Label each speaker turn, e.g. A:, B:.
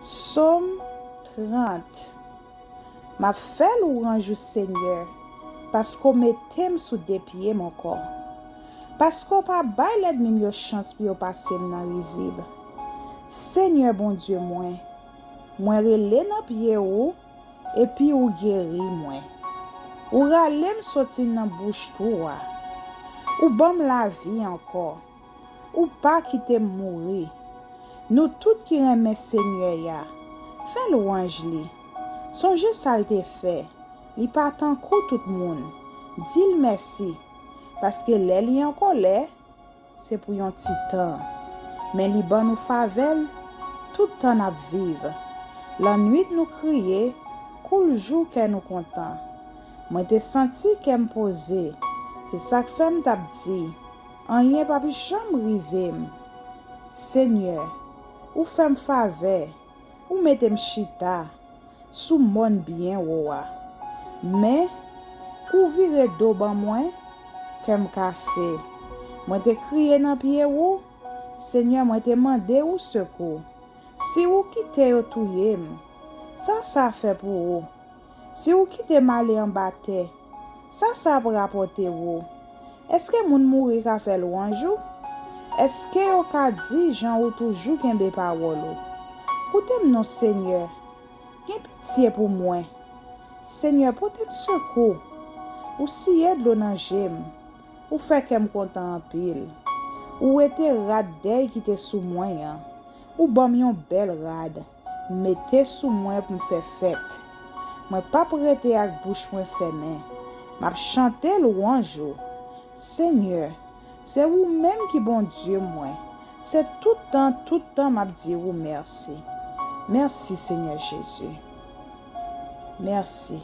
A: Som 30 M ap fè lwanj ou Senyè, paske w mete m sou de pye m ankò. Paske w pa bay lèdmi m yo chans pou yo pase m nan rizib. Senyè Bondye mwen, mwen rele nan pye ou, epi ou geri mwen. Ou rale m soti nan bouch twou a. Ou ban m lavi ankò. Ou pa kite m mouri. Nou tout ki renmen Senyè a, fè lwanj li. Sonje sa l te fè, li pa tankou tout moun. Di l mèsi. Paske lè li an kòlè, se pou yon ti tan. Men li ban nou favè l tout tan n ap viv. Lannuit nou kriye, kou l jou kè nou kontan. Mwen te santi kè m poze. Se sa k fè m t ap di. Anyen pap janm rivem. Senyè, ou fè m favè, ou mete m chita sou mòn byen wo a. Men, kou w vire do ban mwen, kè m kase. Mwen te kriye nan pye ou, Senyè, mwen te mande ou sekou. Si ou kite yo touye m, sa sa fè pou ou? Si ou kite m ale anba tè. Sa sa ap rapòte ou? Èske moun mouri ka fè lwanj ou? Èske yo ka di jan ou toujou kenbe pawòl ou? Koute m non Senyè! Gen pitye pou mwen! Senyè, pote m sekou! Ou siye dlo nan je m. Ou fè kè m kontan anpil. Ou wete rad dèy ki te sou mwen an. Ou ban m yon bèl rad. Mete sou mwen pou m fè fèt. Mwen p ap rete ak bouch mwen fèmen. M ap chante lwanj ou. Senyè, se ou menm ki Bondye mwen. Se tout tan tout tan m ap di ou mèsi. Mèsi, Senyè Jezi. Mèsi.